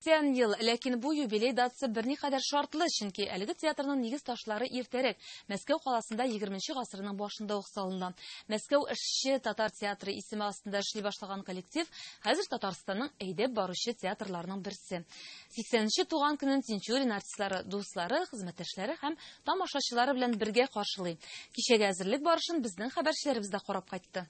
Тән ел, ләкин бу юбилей датасы берникадәр шартлы, чөнки әлеге театрның нигез ташлары иртәрәк, Мәскәү каласында егерменче гасырның башында ук салына. Мәскәү эшче татар театры исеме астында эшли башлаган коллектив хәзер Татарстанның әйдәп баручы театрларының берсе. Сиксәненче туган көнен Тинчурин артистлары дуслары, хезмәттәшләре һәм тамашачылары белән бергә каршылый. Кичәгә әзерлек барышын безнең хәбәрчеләребез дә карап кайтты.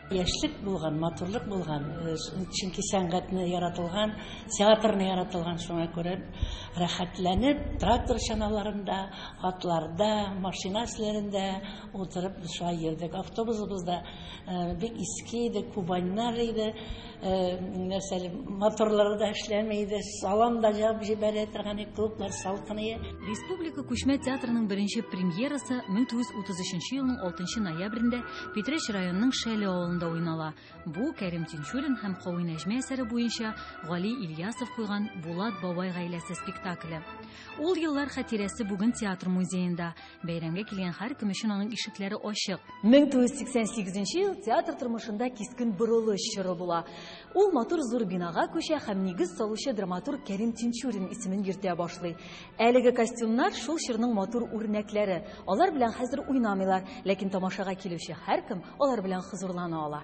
Яшьлек булган, матурлык булган, э, чөнки сәнгатьне яратылган, театрны яратылган, шуңа күрә рәхәтләнеп трактор чаналарында, атларда, машина эсләрендә утырып шулай йөрдек. Автобусыбыз да э, бик иске иде, Кубаньнар иде. Э, нәрсәле моторлары да эшләми иде салам да җабып җибәрә торган иде клублар салкыные республика күчмә театрының беренче премьерасы 1933 елның 6 ноябрендә питрәч районының шәле авылында уйнала бу кәрим тинчурин һәм хавин әҗмә әсәре буенча гали ильясов куйган булат бабай гаиләсе спектакле ул еллар хатирәсе бүген театр музеенда Бәйрәмгә килгән һәркем өчен аның ишекләре ачык. 1988 ел театр тормышында кискен борылыш чоры була. Ул матур зур бинага күчә һәм нигез салучы драматург Кәрим Тинчурин исемен йөртә башлый. Әлеге костюмнар шул чорның матур үрнәкләре. Алар белән хәзер уйнамыйлар, ләкин тамашага килүче һәркем алар белән хозурлана ала.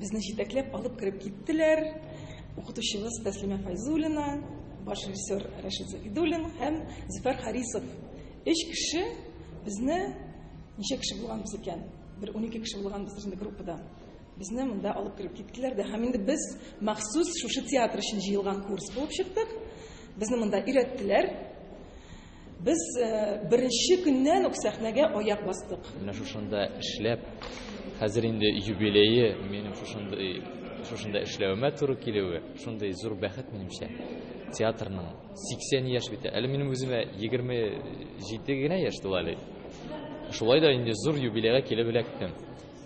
Безне җитәкләп алып кереп киттеләр. Укытучыбыз Тәслимә Файзуллина, баш режиссер Рәшит Загидуллин һәм Зөфәр Харисов. Өч кеше безне ничә кеше булганбыз икән? Бер унике кеше булганбыз инде группада. Безне монда алып кереп киттеләр дә һәм инде без махсус шушы театр өчен җыелган курс булып чыктык. Безне монда өйрәттеләр. Без беренче көннән үк сәхнәгә аяк бастык. Менә шушында эшләп, хәзер инде юбилее, минем шушындый шушында эшләвемә туры килүе, шундый зур бәхет минемчә. Театрның 80 яшь бит. Әле минем үземә 27 генә яшь тула әле. Шулай да инде зур юбилейга килеп эләктем.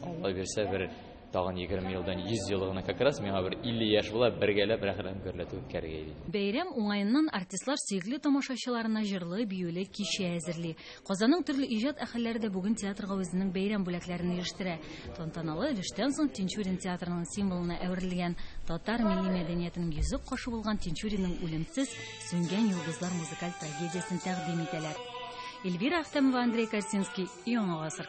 Алла бирсә бер Тагын егерме елдан йөз елы гына как раз миңа бер илле яшь була, бергәләп рәхәтләнеп гөрләтеп үткәрергә иде. Бәйрәм уңаеннан артистлар сөекле тамашачыларына җырлы, биюле кичә әзерли. Казанның төрле иҗат әһелләре дә бүген театрга үзенең бәйрәм бүләкләрен ирештерә. Тантаналы өлештән соң Тинчурин театрының символына әверелгән, татар милли мәдәниятенең йөзек кашы булган Тинчуринның Үлемсез, сүнгән йолдызлар музыкаль трагедиясен тәкъдим итәләр. Эльвира Әхтәмова, Андрей Корсинский, Яңа гасыр.